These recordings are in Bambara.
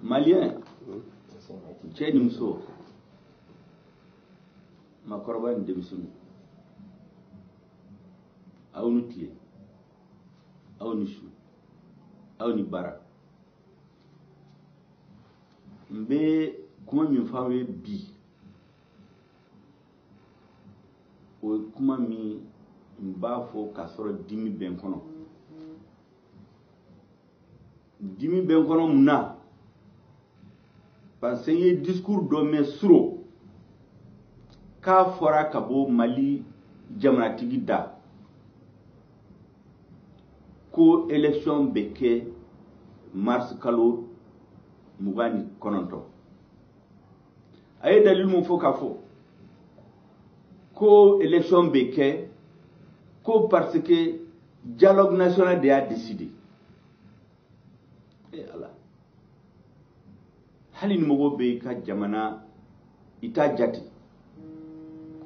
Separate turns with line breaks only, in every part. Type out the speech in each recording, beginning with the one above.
maliyɛn cɛ ni muso maakɔrɔba ni denmisɛnninw aw ni tile aw ni su aw ni baara n bɛ kuma min fɔ aw ye bi o ye kuma min n b'a fɔ k'a sɔrɔ dimi bɛ n kɔnɔ dimi bɛ n kɔnɔ mun na parce que n ye discours dɔ mɛn suro k'a fɔra ka bɔ mali jamanatigi da ko élection bɛ kɛ mars kalo mugan ni kɔnɔntɔn a ye dalilu mun fɔ k'a fɔ ko élection bɛ kɛ ko parce que dialogue national de y'a décidé e ala hali ni mɔgɔ bɛ i ka jamana i t'a jate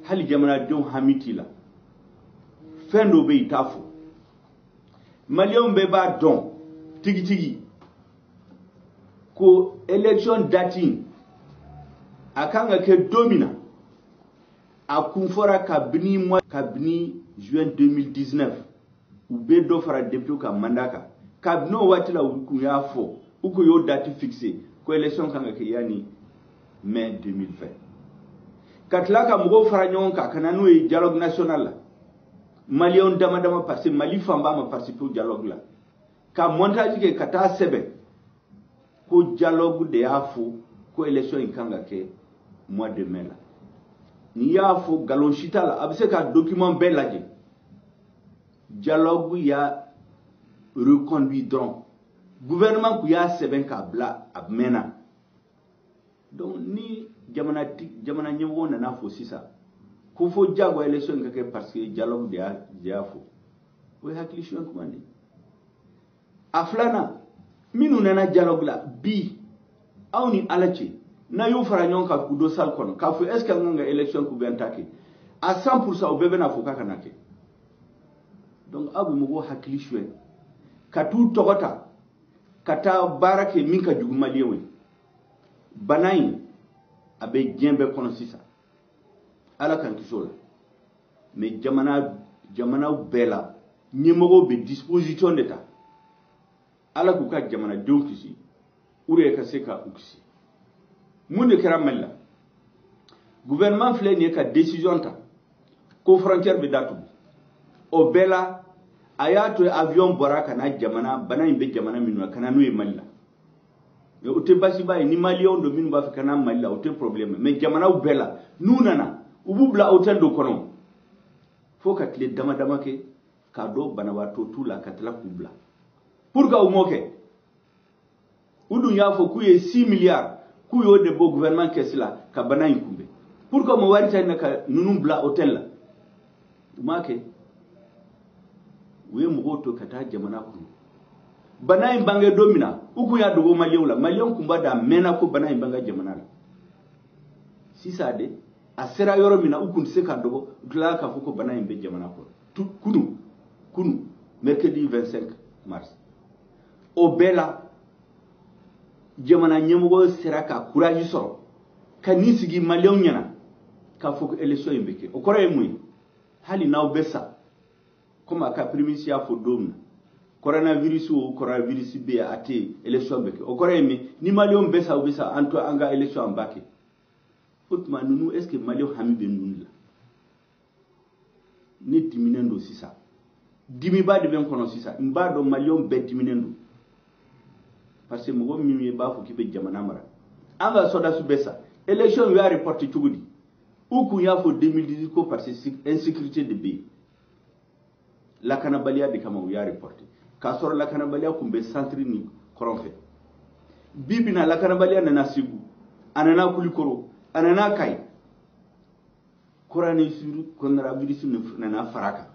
hali jamanadenw hami t'i la fɛn dɔ bɛ i t'a fɔ maliyɛnw bɛɛ b'a dɔn tigitigi ko élection date in a kan ka kɛ don min na a kun fɔra kabini mois kabini juin 2019 u bɛ dɔ fara députéw ka mandat kan kabini o waati la u kun y'a fɔ u kun y'o date fixé ko élection kan ka kɛ yanni mai 2020 ka tila ka mɔgɔw fara ɲɔgɔn kan ka na n'o ye dialogue national la maliyɛnw dama dama parce que mali fanba ma participé o dialogue la ka montage kɛ ka taa sɛbɛn ko dialogue de y'a fɔ ko élection in kan ka kɛ mois de mai la n'i y'a fɔ nkalon si t'a la a bɛ se ka document bɛɛ lajɛ dialogue y'a reconduit dɔrɔn gouvernement kun y'a sɛbɛn k'a bila a mɛnna donc ni jamana jamana ɲɛmɔgɔ nana fɔ sisan ko fo diyagoya élection ka kɛ parce que dialogue de y'a de y'a fɔ o ye hakili suɲɛ kuma de ye a filanan minnu nana dialogue la bi aw ni ala cɛ n'a y'u fara ɲɔgɔn kan k'u don salle kɔnɔ k'a fɔ est ce que an kan ka élection k'u bɛn ta kɛ à 100 pourcent u bɛɛ bɛna fɔ k'a kana kɛ donc aw bɛ mɔgɔw hakili suɲɛ ka t'u tɔgɔ ta ka taa baara kɛ min ka jugu maliyɛnw ye bana in a bɛ diɲɛ bɛɛ kɔnɔ sisan ala k'an kisi o la mais jamana jamanaw bɛɛ la ɲɛmɔgɔw bɛ disposition de ta ala k'u ka jamanadenw kisi u yɛrɛ ka se ka u kisi mun de kɛra mali la gouvernement filɛ nin ye ka décision ta ko frontière bɛ datugu o bɛɛ la a y'a to avion bɔra ka na jamana bana in bɛ jamana minnu na ka na n'o ye mali la o tɛ basiba ye ni maliyɛnw don minnu b'a fɛ ka na mali la o tɛ problème mais jamanaw bɛɛ la n'u nana u b'u bila hôtel dɔ kɔnɔ fo ka tile dama dama kɛ k'a dɔn banabaatɔ t'u la ka tila k'u bila pourquoi u m'o kɛ u dun y'a fɔ k'u ye 6 milliards k'u y'o de bɔ gouvernement kɛsi la ka bana in kunbɛn pourquoi u ma wari ta yen ka ninnu bila hôtel la u m'a kɛ u ye mɔgɔw to ka taa jamana kɔnɔ bana in bange don min na u kun y'a dogo maliyɛnw la maliyɛnw kun b'a dɔn a mɛnna ko bana in b'an ka jamana la sisan de a sera yɔrɔ min na u kun tɛ se ka dogo u tilala k'a fɔ ko bana in bɛ jamana kɔnɔ kunu kunu mercredi 25 mars o bɛɛ la jamana ɲɛmɔgɔ sera ka courage sɔrɔ ka n'i sigi maliyɛnw ɲɛna k'a fɔ ko élection in bɛ kɛ o kɔrɔ ye mun ye hali n'aw bɛ sa komi a ka premier ministre y'a fɔ don min na coronavirus o coronavirus bɛ yen a tɛ yen élection bɛ kɛ o kɔrɔ ye min ni maliyɛnw bɛ sa u bɛ sa an to an ka élection an b'a kɛ o tuma ninnu est ce que maliyɛnw hami bɛ ninnu de la ne diminen don sisan dimiba de bɛ n kɔnɔ sisan n b'a dɔn maliyɛnw bɛɛ diminen don parce que mɔgɔ min ye b'a fɔ k'i bɛ jamana mara an ka sɔrɔdasiw bɛ sa élection u y'a reporté cogo di u kun y'a fɔ 2018 ko parce que insécurité de bɛ yen lakanabaliya de kama u y'a reporté k'a sɔrɔ lakanabaliya tun bɛ centre ni kɔrɔn fɛ bi bi in na lakanabaliya nana segu a nana kulikoro a nana kayi coronavirus nana fara a kan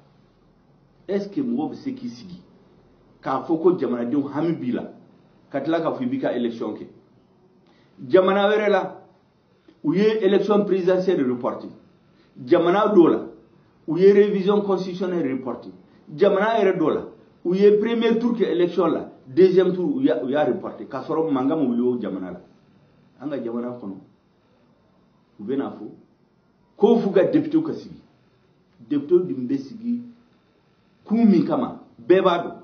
est ce que mɔgɔ bɛ se k'i sigi k'a fɔ ko jamanadenw hami b'i la ka tila k'a fɔ i b'i ka élection kɛ jamana wɛrɛ la u ye élection présidentielle reporté jamana dɔw la u ye révision constitutionnelle reporté jamana yɛrɛ dɔw la u ye premier tour kɛ élection la deuxième tour u y'a reporté k'a sɔrɔ mankan ma wuli o jamana la an ka jamana kɔnɔ u bɛ n'a fɔ ko f'u ka deputew ka sigi deputew dun bɛ sigi kun min kama bɛɛ b'a dɔn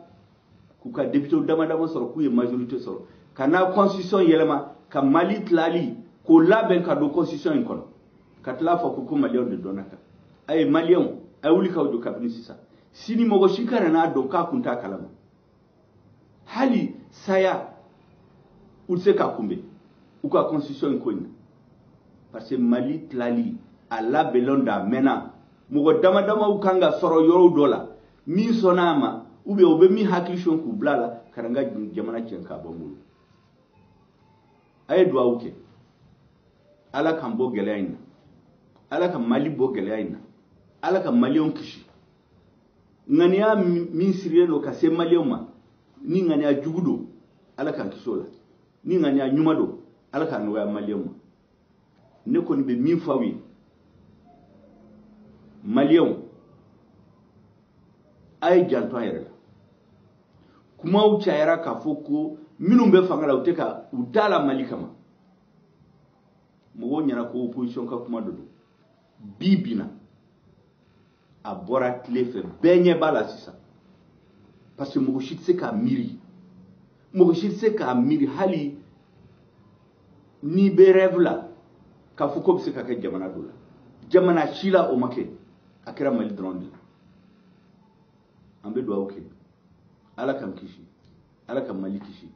k'u ka deputew dama dama sɔrɔ k'u ye majorité sɔrɔ ka na constitution yɛlɛma ka mali tilali k'o labɛn ka don constitution in kɔnɔ ka tila fɔ ko ko maliyɛnw de dɔnna kan a ye maliyɛnw a ye wuli k'aw jɔ kabini sisan sini mɔgɔ si kana n'a dɔn k'a kun t'a kalama hali saya u tɛ se k'a kunbɛn u ka constitution in ko in na parce que mali tilali a labɛnlen don a mɛnna mɔgɔ dama damaw kan ka sɔrɔ yɔrɔ dɔ la min sɔnna a ma ou bien u bɛ min hakili sɔn k'u bila a la ka na n ka jamana cɛn k'a bɔ n bolo a ye duwawu kɛ ala k'an bɔ gɛlɛya in na ala ka mali bɔ gɛlɛya in na ala ka maliyɛnw kisi ŋaniya min sirilen don ka se maliyɛnw ma ni ŋaniya jugu don ala k'an kisi o la ni ŋaniya ɲuman don ala k'a nɔgɔya maliyɛnw ma ne kɔni bɛ min fɔ aw ye maliyɛnw a ye janto a yɛrɛ la kumaw cayara k'a fɔ ko minnu bɛ fanga la u tɛ ka u t'a la mali kama mɔgɔw ɲɛna ko opposition ka kuma de don bi bi in na a bɔra tile fɛ bɛɛ ɲɛ b'a la sisan parce que mɔgɔ si tɛ se k'a miiri mɔgɔ si tɛ se k'a miiri hali n'i bɛ rêve la k'a fɔ k'o bɛ se ka kɛ jamana dɔ la jamana si la o ma kɛ a kɛra mali dɔrɔn de la an bɛ dugawu kɛ ala k'an kisi ala ka mali kisi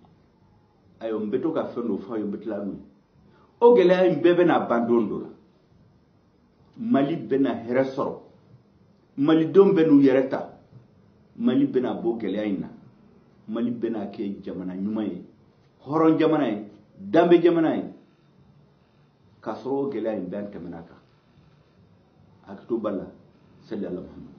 ayiwa n bɛ to ka fɛn dɔ fɔ aw ye n bɛ tila n'o ye o gɛlɛya in bɛɛ bɛna ban don dɔ la mali bɛna hɛrɛ sɔrɔ malidenw bɛn'u yɛrɛ ta mali bɛna bɔ gɛlɛya in na mali bɛna kɛ jamana ɲuman ye hɔrɔn jamana ye danbe jamana ye k'a sɔrɔ o gɛlɛya in bɛɛ an tɛmɛna kan hakili to b'a la sali ala muhamadu